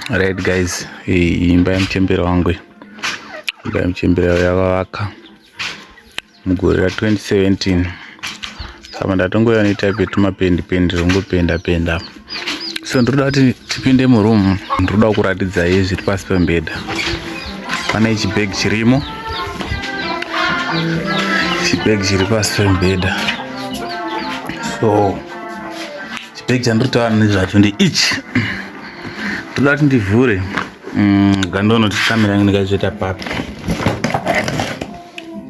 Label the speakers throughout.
Speaker 1: Right guys, imba ya mchembere wangu, imba ya mchembere yavavaka mugore ra 2017 apa ndatongoya netype yetumapendi pendi zvongopenda penda so ndinoda kuti tipinde muroom ndinoda kuratidzai zviri pasi pembeda pane chibag chirimo chibag chiri pasi pembeda so chibag chandinotaura nezvacho ndi ichi ndinoda kuti ndivhure mm, gandonoti kamera yangu ndikazviita papi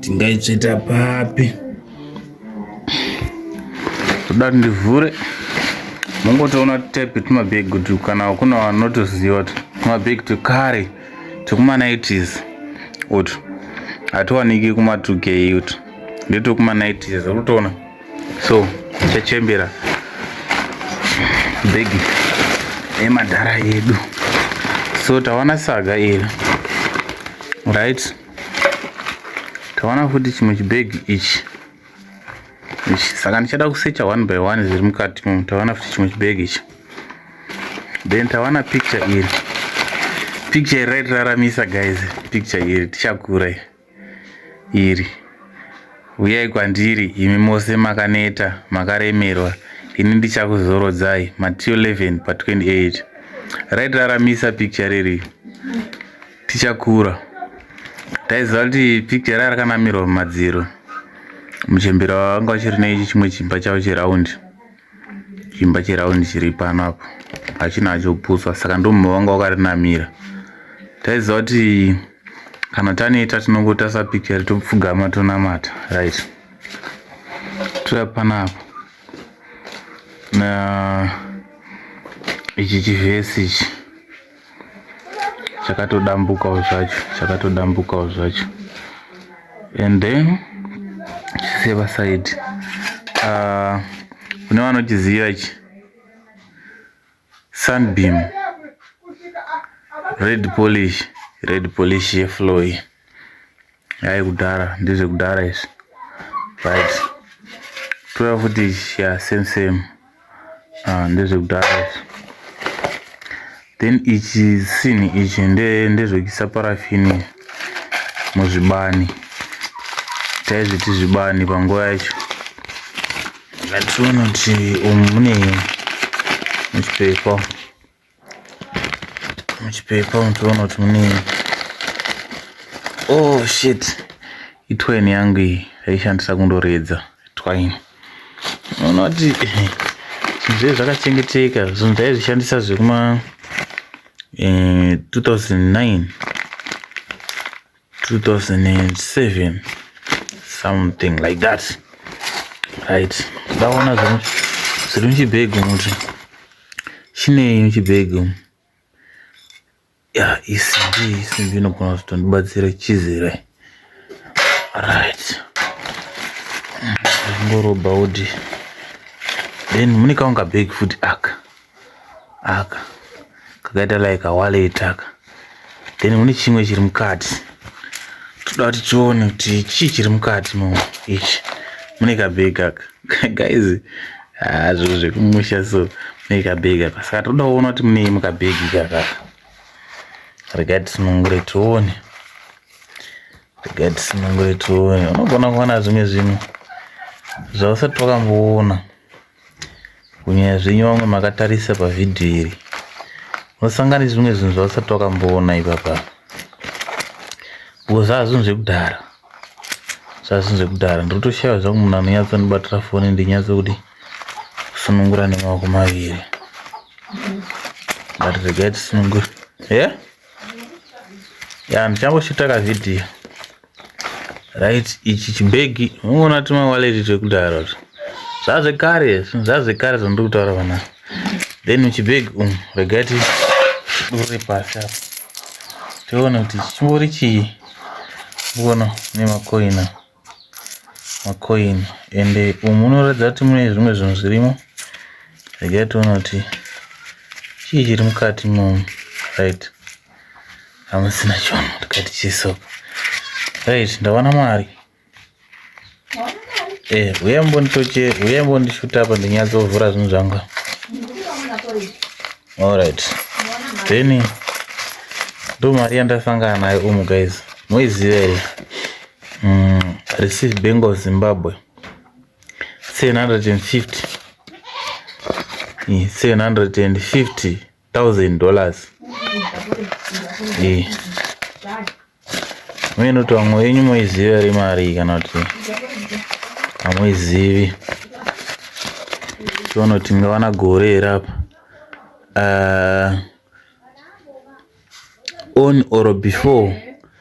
Speaker 1: tingaitsveta papi toda ndivhure mungotoona type tumabhegi kuti kana kuna vanotoziva kuti tumabhegi twekare twekuma90s utu hatiwaniki kuma2k utu ndetwekuma90s urutoona so chachembera bhegi emadhara yedu so tawana saga iri right tawana futi chimwe chibhegi ichi ichi saka ndichada kusecha one by one zviri mukati umu tawana futi chimwe chibhegi ichi then tawana picture iri picture iri raitiraramisa guys picture iri tichakura iri uyai kwandiri imi mose makaneta makaremerwa ini ndichakuzorodzai matthew 11 pa 28 raitiraramisa picture riri tichakura taiziva kuti picture raya rakanamirwa mumadziro muchembera wanga uchiri neichi chimwe chimba chavo cheraundi chimba cheraundi chiri pano apo hachina hachoputswa saka ndomumwe wanga wakarinamira taiziva kuti kana taneta tinongotasa picture topfugama tonamata right toya panapo na ichi chivhesi ichi chakatodambukawo zvacho chakatodambukawo zvacho and then chiseva side uh, kune vanochiziva ichi sunbeam red polish red polish yeflow iyi Hai kudhara ndizve kudhara izvi. Right. Tora futi ya same same. Ah ndizve kudhara izvi. Then ichi sini ichi nde ndezvekisa parafini muzvibani. Taizviti zvibani panguva yacho. Ngationa kuti umu mune muchipepa. muchipepa umu toona kuti mune oh shit itwaini yangu iyi yaishandisa kundoredza twaini unoona kuti zvinhu zvedu zvakachengeteka zvinhu taizvishandisa zvekuma 2009 eh, 2007 something like that right ndaona zvino zviri muchibhegi muti chinei muchibhegi umu ya isimbi isimbi inogona kuzotondibatsira chizire right ngorobha udi then mune kaunga bhegi futi aka aka kakaita like a wallet aka then kune chimwe chiri mukati toda kuti tione kuti chii chiri mukati mo ichi mune kabhegi aka guys haa zviro zvekumusha so mune kabhegi aka saka toda kuona kuti munei mukabhegi kaka regai tisunungure tione regai tisunungure tione unogona kuona zvimwe zvinhu zvausati wakamboona kunyanya zvenyu vamwe makatarisa pavhidhiyo iri unosangana nezvimwe zvinhu zvausati wakamboona ipapa because zvazvinhu zvekudhara zvazvinhu zvekudhara ndinotoshaiva zvangu munhu anonyatsondibatira foni ndinyatsokuti kusunungura nemaoko maviri but regai tisunungure ye ya ndichamboshuta kavhidhiyo right ichi chimbegi ungoona tuma wallet twekudaro zvazvekare zvazvekare zvandiri kutaura vana then muchibhegi umu um, regai tidure pasi apa tione kuti chimbori chii uona nemakoina makoini ende umu unoratidza kuti mune zvimwe zvinhu zvirimo regai tione kuti chii chiri mukati momu right hamusina chono tikati chiso right ndawana mari eh uya mbonditoche uya mbondishuta apa ndinyatsovhura zvinhu zvangu alright then ndo mari yandasangana nayo umu guys moiziva here mm, receive bank of zimbabwe 750 750 1000 dollars eh mimi kuti vamwe wenyu moiziva ri mari kana kuti hamuizivi tiona kuti tingavana gore here apa uh, on or before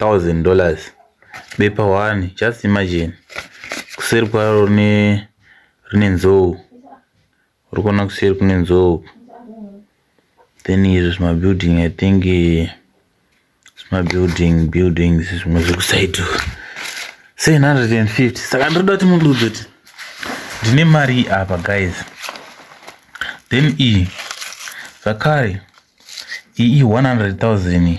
Speaker 1: 1000 dollars bepa one just imagine kuseri kwaro rine rine nzou uri kuona kuseri kune nzou then izvo zvimabuilding i think zvimabuilding buildings zvimwe zvekusaido 750 saka ndiri da kuti mundiudze kuti ndine mari apa guys then iyi zvakare iyi 100 000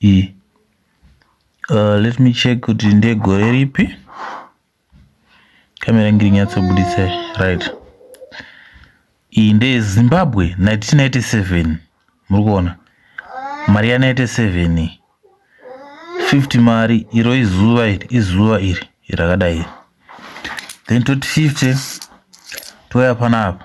Speaker 1: iyi uh, let me check kuti ndegore ripi kamera yangu iri nyatsobuditsa right iyi ndeyezimbabwe 1997 muri kuona mari ya 97 iyi 50 mari iro izuva iri izuva iri rakadai then toti 50 touya panapa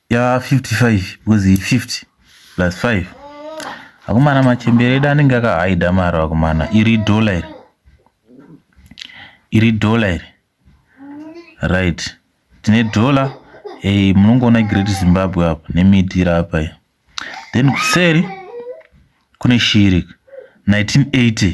Speaker 1: ya 55 because 50 plus 5 akomana machembere edu anenge akahaida mari akomana iri dhola iri iri dhola iri right tine dhola hey, eh, munongoona great zimbabwe apa nemiti iri apa iyo then kuseri kune shiri 1980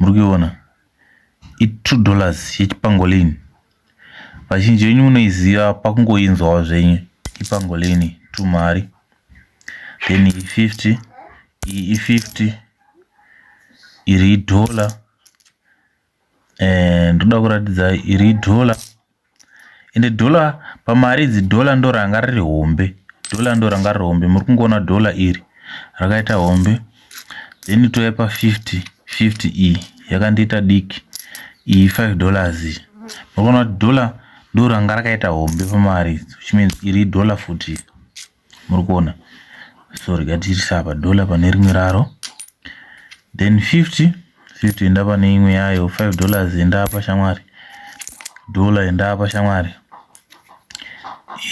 Speaker 1: murikuiona i two dollars yechipangolin vazhinji venyu munoiziva pakungoinzwawo zvenyu ipangolin two mari then i 50 iyi i 50 iri idollar eh, ndoda kuratidza iri idollar ende dollar pamari idzi dollar ndo ranga riri hombe dollar ndo ranga riri hombe muri kungoona dollar iri rakaita hombe then touya pa 50 50 iyi yakandiita diki iyi 5 dollars iyi muri kuona kuti dollar ndo ranga rakaita hombe pamari idzo which means iri dollar futi muri kuona so rega tiisa apa dollar pane rimwe raro then 50 50 enda pane imwe yayo 5 dollars enda apa shamwari dollar enda apa shamwari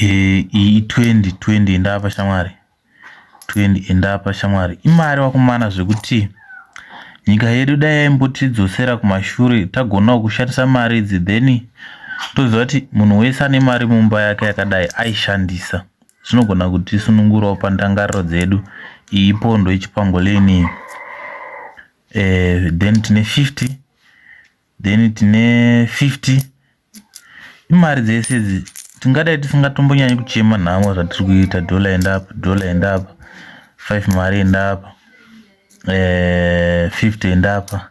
Speaker 1: eh, iyi 20 20 enda apa shamwari 20 enda apa shamwari imari wakumana zvekuti nyika yedu dai yaimbotidzosera kumashure tagonawo kushandisa mari idzi then toziva kuti munhu wese ane mari mumba yake yakadai aishandisa zvinogona kutisunungurawo pandangariro dzedu iyi ipondo yechipangoleni iyi eh, then tine 50 then tine 50 imari dzese idzi tingadai tisingatombonyanyi kuchema nhamo zvatiri kuita dhola enda apa dhola enda apa 5 mari enda apa eh, 50 enda apa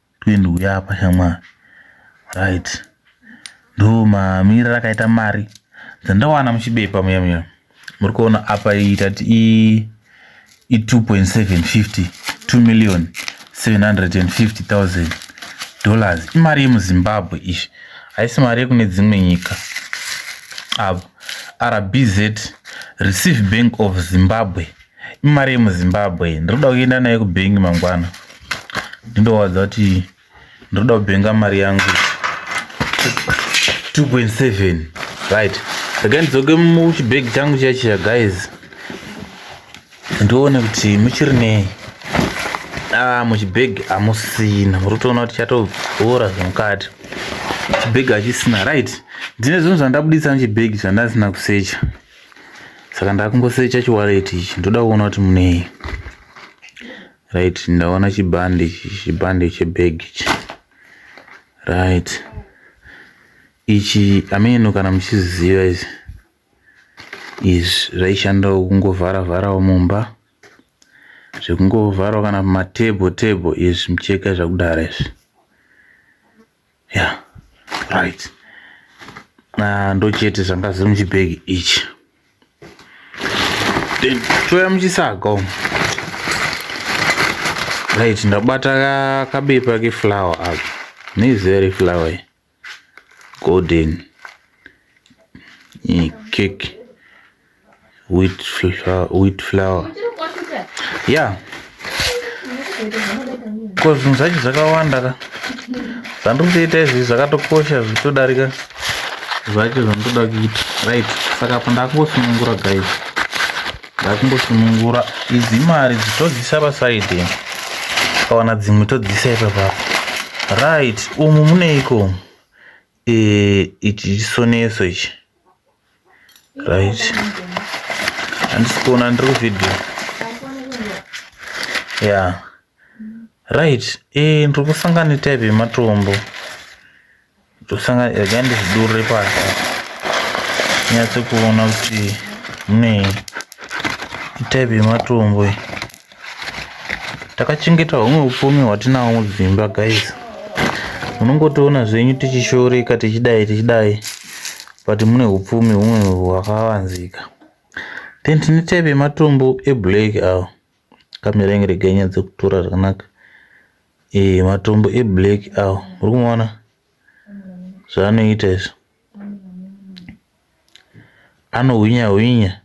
Speaker 1: Twende uya apa shamwari. Right. Ndo mamirira akaita mari dzandawana muchibepa muya muya. Muri kuona apa iyi tati i i 2.750 2 million 750,000 dollars. Imari yemuZimbabwe izvi. Haisi mari yekune dzimwe nyika. Apa RBZ Receive Bank of Zimbabwe. imari yemuzimbabwe ndiri kuda kuenda nayo kubhengi mangwana ndindowadza kuti ndiri kuda kubhenga mari yangu 2.7 right regai ndidzoke muchibhegi changu chachiya guys ndione kuti muchiri nei ah muchibhegi hamusina muri kutoona kuti chatobhora zvemukati chibhegi hachisina right ndine zvinhu zvandabudisa muchibhegi zvandasina kusecha saka ndakungosecha chiwaleti ichi ndoda kuona kuti munei right ndaona chibhande ichi chibhande chebag ichi right ichi ameno kana muchiziziva izvi izvi zvaishandawo kungovhara vharawo mumba zvekungovharawo kana matable table izvi micheka zvakudara izvi yeah right ah, ndochete zvanga zviri muchibhegi ichi then toya muchisaga umu right ndabata kabepa keflower apa nezere flower golden cake wheat flour, wheat flour. Yeah. Ko zvinhu zvacho zvakawanda ka. Zvandiri kutoita izvi zvakatokosha zvitodarika zvacho zvandoda kuita. Right. Saka apa ndakungosunungura guys. Ndakungosunungura idzi mari dzitodzisa pasaidi. Kawana dzimwe todzisa ipapapo. Right. Umu muneiko? Eh, ichi chisoneso ichi right handisi kuona ndiri kuvideo ya right e eh, ndiri kusangana netype yematombo ndosangana rega ndizvidurire pasi nyatse kuona kuti munei itype yematombo iyi takachengeta humwe upfumi hwatinawo mudzimba guys munongotiona zvenyu tichishoreka tichidai tichidai but mune upfumi humwe hwakavanzika then tine type yematombo eblack awo kamera inge rega inyadze kutora zvakanaka e, matombo eblack awo uri kumaona zvaanoita izvo anohwinya hwinya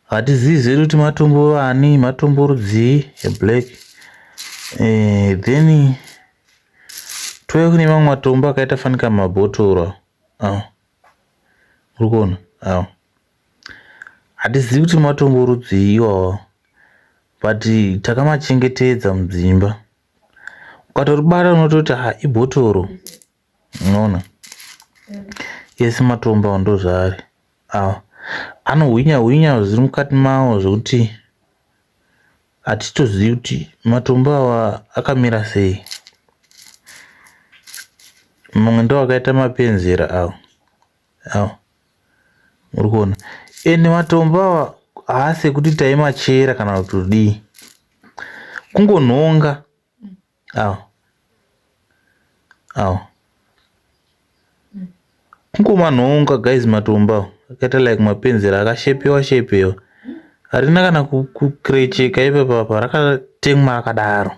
Speaker 1: hatizivi zvedu kuti matombo vani matombo rudzii eblack eh, then tove kune mamwe matombo akaita fanika mabhotoro awo uri kuona awo hatizivi kuti matombo rudzii iwawo but takamachengetedza mudzimba ukatoribata unototi ha ibhotoro unoona ese matombo awo ndozvaari awo anohwinya hwinya zviri mukati mawo zvekuti hatitozivi kuti matombo awa akamira sei mamwe ndo akaita mapenzera awo awo muri kuona ende matombo awa haasi ekuti taimachera kana kuti kudii kungonhonga Aw. Aw. Mkoma nhonga guys matomba akaita like mapenzera akashepewa shepewa. Harina kana kukrecheka ipa papa rakatemwa rakadaro.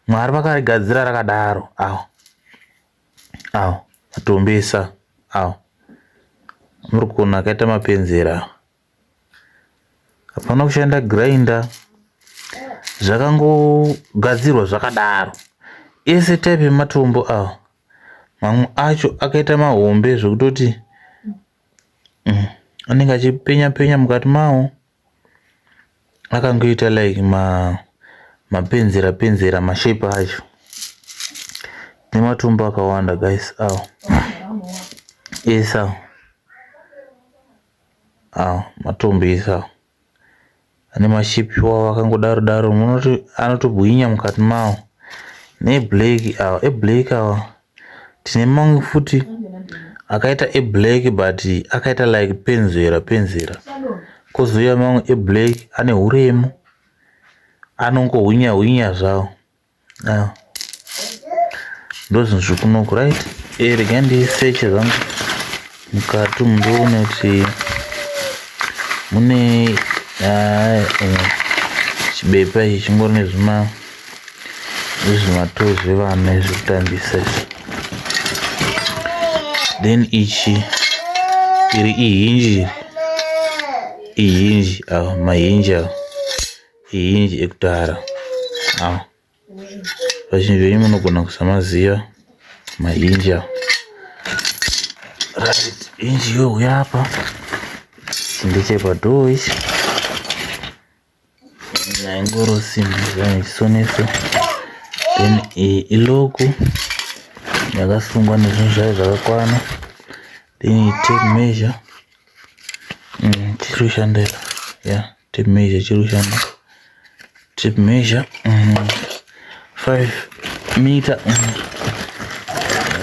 Speaker 1: Mwari vakarigadzira rakadaro. Aw. Aw. Matombesa. Aw. Murikona akaita mapenzera. hapana kushanda grinder zvakangogadzirwa zvakadaro ese type yematombo awa mamwe acho akaita mahombe zvekutoti mm, anenge achipenya penya mukati mawo akangoita like ma mapenzera penzera mashape acho nematombo akawanda guys awa ese awa Matombesa ane mashape iwawo akangodaro daro munoti anotobwinya mukati mawo neeblack awa eblack awa tine mamwe futi akaita eblack but akaita like penzera penzera kozouya mamwe eblack ane huremu anongohwinha hwinha zvawo. Ah. Ndozvinhu zvekunoku right eh, regai ndiseche zvangu mukati umu ndoone kuti mune ah, eh, chibepa ichi chingori nezvima zvimatoo zvevana zvekutambisa izvi then ichi iri ihinji ihinji awa ah, mahinji awa ah. hinji ekudhara awa vazhinji venyu munogona kusamaziva mahinji awa right hinji youya apa ndechepadhoo ichi naingoro simbi zvanechisoneso then iyi iloku yakasungwa nezvinhu zvayo zvakakwana then iyi tape measure mm, tichiri kushandira yeah tape measure chiri kushanda tape measure mm, 5 meter mm.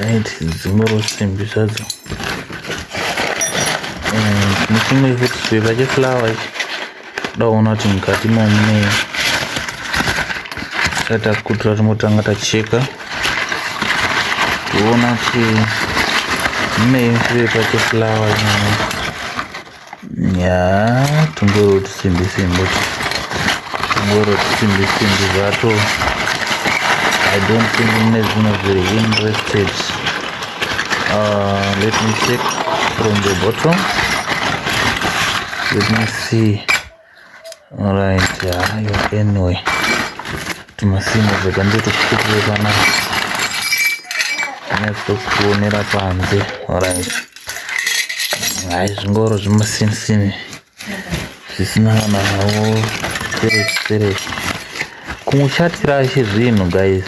Speaker 1: right dzingoro simbi zvadzo nechimwe mm, futi chipepa cheflower ichi daona kuti mukati momune tatakutira timotanga tacheka kuona kuti mune chipepa cheflower nyaya ya tungoro tusimbi simbi tungoro tusimbi simbi zvato i don't think mune zvimwe zviri interested uh, let me check from the bottom let me see Alright, hayo anyway. Tumasimo zvega ndito tukutuwe kana. Next kuonera panze. Alright. Hayi zvingoro zvimasini sini. Zvisina kana wo spirit spirit. kumusha hatirashi zvinhu guys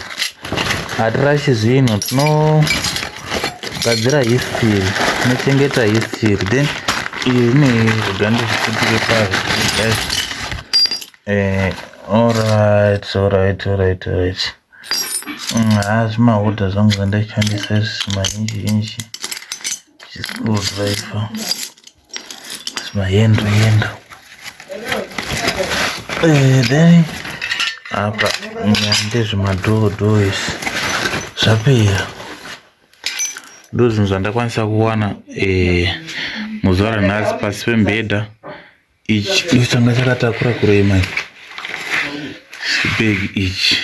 Speaker 1: hatirashi zvinhu tinogadzira history tinochengeta history then iyi ine zvidhande zvikutire pazvo guys eh, alright alright alright alright mm, haa zvimahodha zvangu zvandashandisa izvi mazhinji zhinji zvisikudhaifa mayendo yendo eh, then apa ndezvemadhoodhoo izvi zvapera ndozvinhu zvandakwanisa kuwana eh, muzuva ranhasi pasi pembhedha ichi changa chakatakura kurema chibeg ichi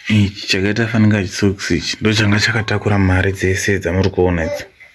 Speaker 1: ichi chakaita fanika chisoks ichi ndochanga chakatakura mari dzese dzamuri kuona idzi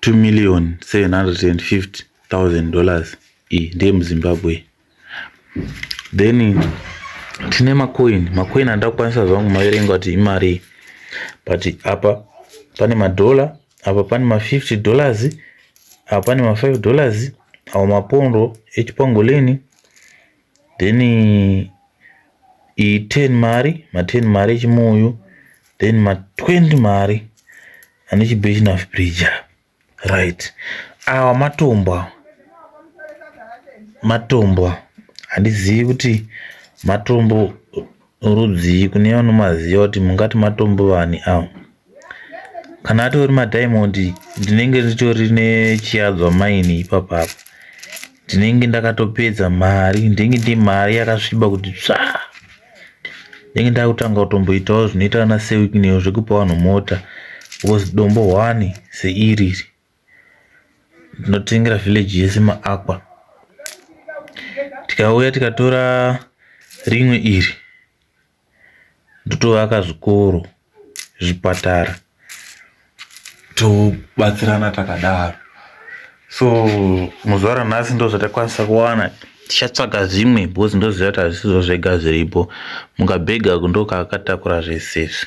Speaker 1: 2 million 750 thousand dollars iyi ndeye muzimbabwe then tine macoin macoin handida kukwanisa zvangu maverenga kuti imari but apa pane madhora apa pane ma50 dollars apa pane ma5 dollars awo mapondo echipangoleni then iyi 10 mari ma 10 mari echimuyu then ma 20 mari ane chibechina bridge right awa matombo awa matombo handizivi kuti matombo Rudzii kune vanomaziva kuti mungati matombo vani awa. Kana atori madiamond ndinenge nditori nechiyadzwa maini ipapa apa. Ndinenge ndakatopedza mari, ndinenge ndi mari yakasviba kuti tsva. Ndinenge ndakutanga kutomboitawo zvinoita ana Sewikneyo zvekupa vanhu mota because dombo hwani seiriri. tinotengera village yese maakwa tikauya tikatora rimwe iri ndotovaka zvikoro zvipatara tobatsirana takadaro so muzuva ranhasi ndo zvatakwanisa kuwana tichatsvaga zvimwe because ndoziva kuti hazvisizvo zvega zviripo mukabhega kundokakatakura zvese izvi